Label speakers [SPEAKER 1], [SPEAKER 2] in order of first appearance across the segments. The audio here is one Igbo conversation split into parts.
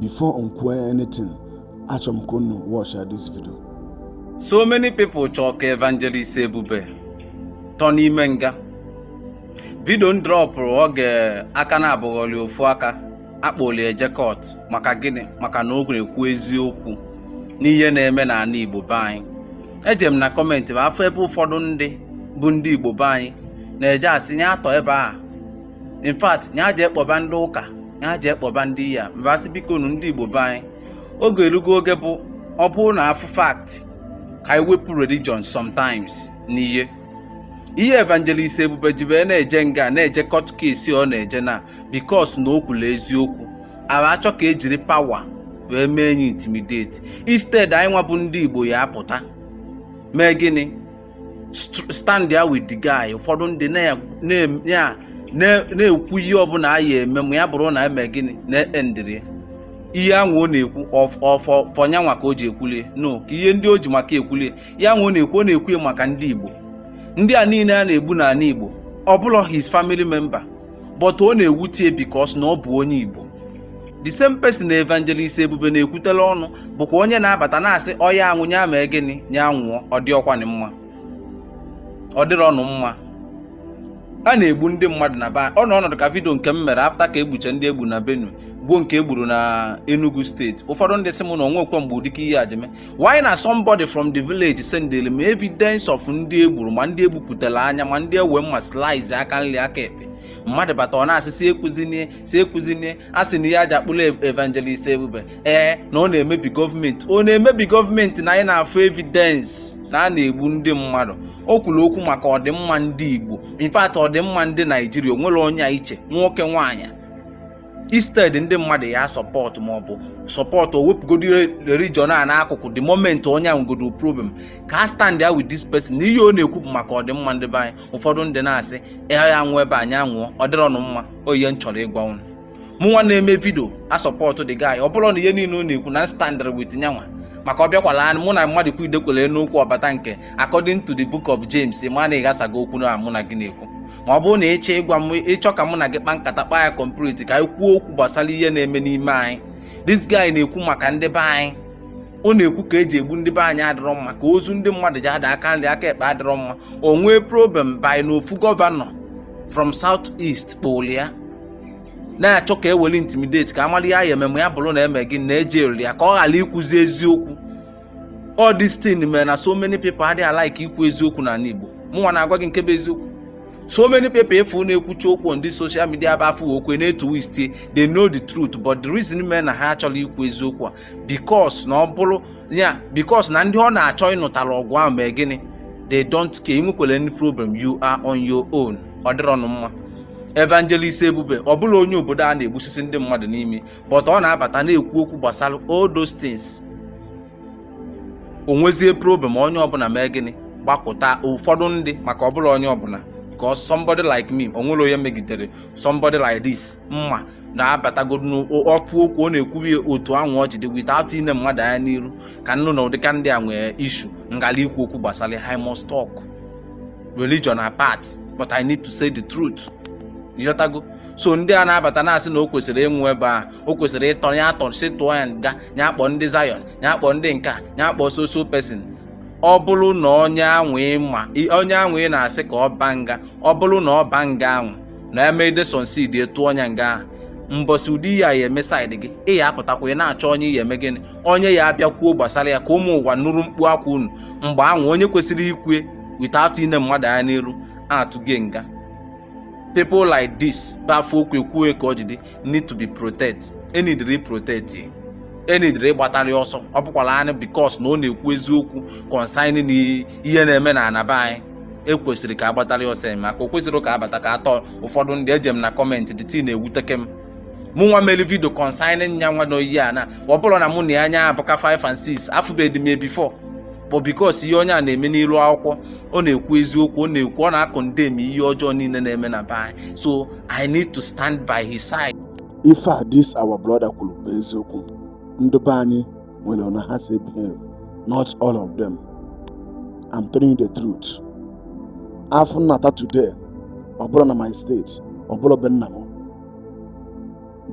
[SPEAKER 1] before m kwuo anything achọ m ka unu watch this video so
[SPEAKER 2] many people chọọ ka evangelist ebube tọ n'ime nga vidio m dropụrụ oge aka na-abụghọli ofu aka akpọli eje court maka gịnị maka na o na-ekwu eziokwu n'ihe na-eme n'ana igbo be anyị eje m na kọmentị m afụ ebe ụfọdụ ndị bụ ndị igbo be anyị na-eje asị nya atọ ebe a in fact ya jee kpọba ndị ụka ya jee kpọba ndị ya mbasị biko nu ndị igbo be anyị oge erugo oge bụ ọ bụrụ na afụ fact ka anyị wepụ religion sometimes n'ihe ihe evangelist ebube jibe na-eje nga na-eje court case ọ na-eje na because na o kwuru eziokwu ara achọ ka ejiri pawa wee mee ya intimidate instead anyị nwa bụ ndị igbo ya apụta mee gịnị standịa with the guy ụfọdụ ndị na-ekwu ihe ọbụla a ya eme ma ya bụrụ na eme gịnị na-endịrị ihe ahụ ọ na-ekwu ọ for nyanwa ka o ji ekwulie no ka ihe ndị o ji maka ekwulie ihe ahụ ọ na-ekwu ọ na-ekwu ya maka ndị Igbo ndị a niile a na-egbu n'ala Igbo ọ bụrọ his family member but ọ na-ewutie because na ọ bụ onye Igbo the same person na evangelist ebube na-ekwutela ọnụ bụkwa onye na-abata na-asị ọ ya-anwụ nya mee gịnị nya nwụọ ọ dịrọkwanụ mma ọ dịrọnụ mma a na-egbu ndị mmadụ na ba ọ nọ ọnọdụ ka vidio nke m mere afta ka egbuche ndị egbu na Benue gbuo nke egburu na Enugu steeti ụfọdụ ndị sị m na o nwekwe mgbe ụdịka ihe a ji eme while na somebody from the village sendele m evidence of ndị egburu ma ndị egbupụtara anya ma ndị ewe mma slice aka nri aka ekpe mmadụ bata ọ na-asị si ekwuzinie si ekwuzinie a sị na ihe e ji kpụrụ evangelist ebube ee na ọ na-emebi gọọmenti ọ na-emebi gọọmenti na anyị na-afụ evidence na a na-egbu ndị mmadụ o kwuru okwu maka ọdịmma ndị igbo in fact ọdịmma ndị naijiria o nwere onye a iche nwoke nwaanyị instead ndị mmadụ ya sọpọtụ maọbụ sọpọtụ o wepụgodo religion a n'akụkụ the moment onye ahụ godo problem ka a standịa with this person na ihe ọ na-ekwu bụ maka ọdịmma ndị be anyị ụfọdụ ndị na-asị ya ya nwụọ ebe anyị anwụọ ọ dịrọnụ mma ọ ihe m chọrọ ịgwa unu mụ nwa na-eme vidio a sọpọtụ the guy ọ bụrụ na ihe niile ọ na-ekwu na m standịrị with nyanwa maka ọ bịakwala anyị mụ na mmadụ kwu idekwele n'okwu ọbata nke according to the book of James ma na ịghasago okwu na mụ na gị na-ekwu ma ọ bụrụ na ịchọ ka mụ na gị kpa nkata kpaa ya kọmpriti ka anyị kwuo okwu gbasara ihe na-eme n'ime anyị this guy na-ekwu maka ndị be anyị ọ na-ekwu ka eji egbu ndị be anyị adịrọ mma ka ozu ndị mmadụ ji ada aka nri aka ekpe adịrọ mma o nwee problem bụ na ofu gọvanọ from south east kpọlụ ya na-achọ ka eweli intimidate ka amara ihe a ya ememe ya bụrụ na eme gịnị eji eriri ya ka ọ ghara ikwuzi eziokwu all this thing mere na so many people adịghị alike ikwu eziokwu n'ana Igbo mụnwa na-agwa gị nke bụ eziokwu so many people ị fụ na-ekwuchi okwu on this social media bụ afọ okwe na-etwist they know the truth but the reason mere na ha achọrọ ikwu eziokwu a because na ọ bụrụ ya because na ndị ọ na-achọ ịnụtara ọgụ ahụ mee gịnị they don't care i nwekwere any problem you are on your own ọ dịrọ nụ mma evangelist Ebube ọ bụrọ onye obodo a na-egbusisi ndị mmadụ n'ime but ọ na-abata na-ekwu okwu gbasara all those things o nwezie problem onye ọbụla mee gịnị gbakụta ụfọdụ ndị maka ọ bụrọ onye ọbụla because somebody like me o nwere onye megidere somebody like this man na-abatagodu na ọ fụ okwu ọ na-ekwubi otu ahụ o ji dị without ine mmadụ anya n'iru ka nnụ na ụdịka ndị a nwee issue m garị ikwu okwu gbasara I must talk religion apart but I need to say the truth ịghọtago so ndị a na-abata na-asị na o kwesịrị ịnwụ ebe a o kwesịrị ịtọ ya atọ sị tụọ ya nga ya akpọ ndị Zion ya akpọ ndị nke a ya akpọ so so person ọ bụrụ na onye anwụ ị ma onye anwụ ị na-asị ka ọ ba nga ọ bụrụ na ọ ba nga anwụ na e mede succeed tụọ nya nga ahụ mbọsị ụdị ya ya-eme side gị ị ya-apụtakwa ị na-achọ onye ya-eme gịnị onye ya-abịa kwuo gbasara ya ka ụmụ ụwa nụrụ mkpu akwa unu mgbe anwụ onye kwesịrị ikwu ya without ine mmadụ anya n'iru a tụgo ya nga people like this bụ a fụ okwu e kwuo ya ka o ji dị need to be protect e needịrị protect e needịrị ịgbatarị ọsọ ọ bụkwara anyị because na ọ na-ekwu eziokwu concerning ihe na-eme na ana be anyị e kwesịrị ka a gbatarị ọsọ eme maka o kwesịrị ka abata ka atọ ụfọdụ ndị eje m na comment the thing na-ewuteke m mụ nwa mere video concerning nya nwa onye a na ọ bụrọ na mụ na nya abụka 5 and 6 afụbeghị m ya before but because ihe onye a na-eme n'iru akwụkwọ ọ na-ekwu eziokwu ọ na-ekwu ọ na-acondemn ihe ọjọọ niile na-eme na be anyị so i need to stand by his side ife this
[SPEAKER 1] our brother kwuru bụ eziokwu ndị be anyị nwere ọna ha si behave not all of them i'm telling you the truth a fụ m nata today ọ bụrọ na my state ọ bụrọ be nna m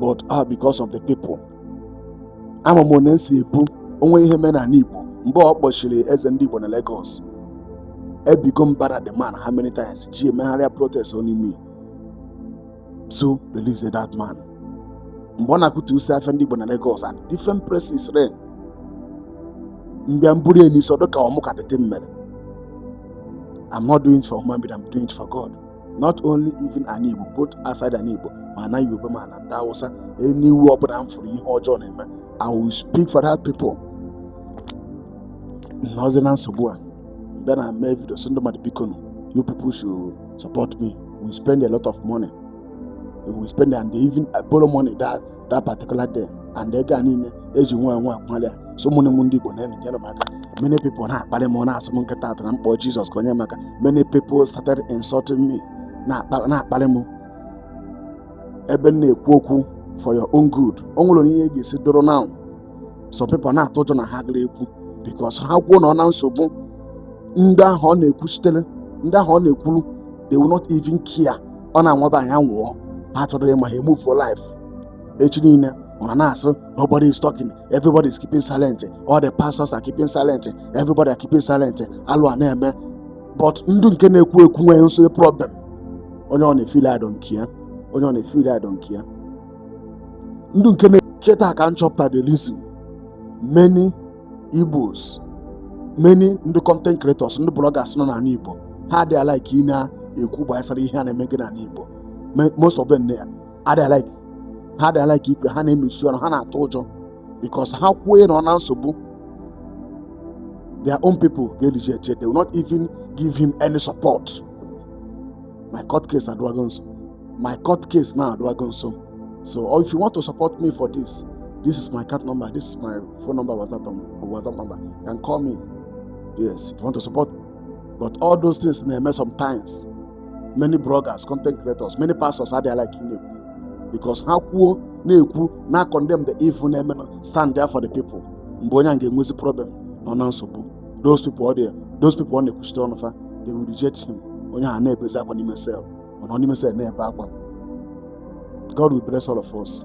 [SPEAKER 1] but ah because of the people ama m ọna m si ebu onwe ihe mee n'ana Igbo mgbe a kpọchiri eze ndị Igbo na Lagos ebigo mbara the man how many times ji emegharịa protest only me to release that man mgbe a na-akụtusi afịa ndị Igbo na Lagos and different places m bịa m buru n'isi ọ dịka ọ mụ ka the thing mere I'm not doing it for human being, I'm doing it for God. not only even ana Igbo both outside ana Igbo ma na Yoruba ma na ndị Hausa anywhere ọbụla m fụrụ ihe ọjọọ na-eme I will speak for that people nọzi na nsogbu abịa m mee video sị ndị mmadụ biko you people should support me we spend a lot of money we spend and even borrow money that that particular day and ego a niile eji nwa nwa akwụ na lawyer so ụmụnne m ndị Igbo na-enyere m aka many people na-akparị m na-asị m kịta atụ na m kpọọ Jizọs ka o nye m aka many people started insulting me na-akparị m ebe m na-ekwu okwu for your own good o nwere ihe ga-esi doro now some people na-atụ ụjọ na ha gara ekwu because ha kwuo nọọ na nsogbu ndị ahụ ọ na-ekwuchitere ndị ahụ ọ na-ekwuru they will not even care ọ na-anwaba anyị anwụọ ha achọrọ ịma ha emove on life echi niile ọ na-asụ nobody is talking everybody is keeping silent all the pastors are keeping silent everybody are keeping silent alụ a na-eme but ndị nke na-ekwu ekwu nwee nso problem onye ọ na-efeel I don't care onye ọ na-efeel I don't care ndị nke na kịta ka m chọpụta the reason many Igbos many ndị content creators ndị bloggers nọ n'ala Igbo ha adịghị alike ị na-ekwu gbasara ihe a na-emega n'ala Igbo Me- most of them na- adịghị alike ha adịghị alike ikwu ha na-emechi ọnụ ha na-atụ ụjọ because ha kwuo nọọ na nsogbu their own people ga-ereject ya they will not even give him any support my court case adịwago nso my court case now adịwago nso so or if you want to support me for this this is my account number this is my phone number whatsapp number whatsapp number you can call me yes if you want to support but all those things na-eme sometimes many bloggers content creators many pastors adịghị like ị na-ekwu because ha kwuo na-ekwu na condemn the evil na-eme na stand there for the people mgbe onye a ga-enwezi problem nọ na nsogbu those people ọ dị those people ọ na-ekwuchite ọnụ fa they will reject him onye ahụ na-ebezi akwa n'ime cell ọ nọ n'ime cell na-ebe akwa God will bless all of us.